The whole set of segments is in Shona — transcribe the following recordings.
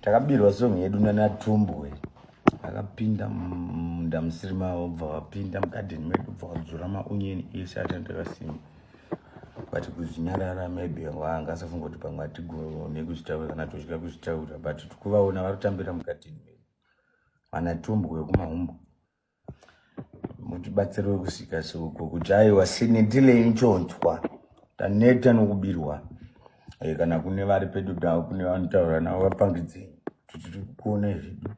takabirwa song yedu nana tumbwe akapinda munda musiri mavo bva vapinda mugadheni medu bva vadzura maonyeni ese atandakasimba but kuzvinyarara maybe wanga asafunga kuti pamwe atigone kuzvitaura kana tozvika kuzvitaura but tikuvaona varikutambira mugadheni medu vanatumbwe kumahumbo mutibatsirwe kusvika seuko kujaiwa sinitileyi nchonzwa taneta nokubirwa eh, kana kune vari pedu davo kune vanotaura navo vapangidzei kuti tiri kuona izvidu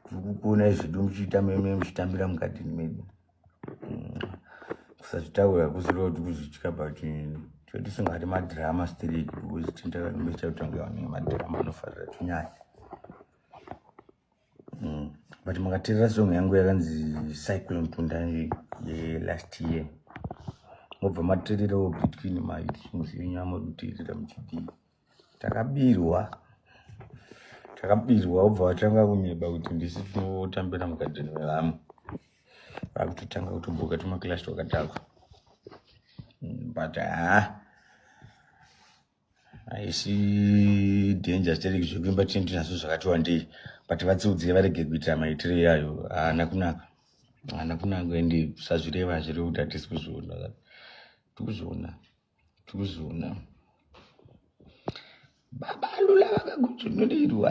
tiri kukuona izvidu muchiita meme muchitambira mukatini medu mm. kusazvitaura kusiro kuti kuzvitya but chotisingati madhirama straight because tindakambecha kutanga vanenge madhirama anofarira tinyaya mm. but makateerera song yangu yakanzi cyclone tunda yelast year mobva mateererawo between masongs enyu amakuteerera muchidii takabirwa takabirwa obva vatanga kunyeba kuti ndisi tinotambira mugadheni vevamwe vakutotanga kutomboka tumakilasi twakadhakwa mm, but haa ah. haisi danger stereki zvekuimba tinenge tinazvo zvakati wandei but vatsiudzire varege kuitira maitiro iyayo haana kunaka haana kunaka ende sazvireva hazviri kuti hatisi kuzviona tikuzviona tikuzviona baba lula vakagudzunurerwa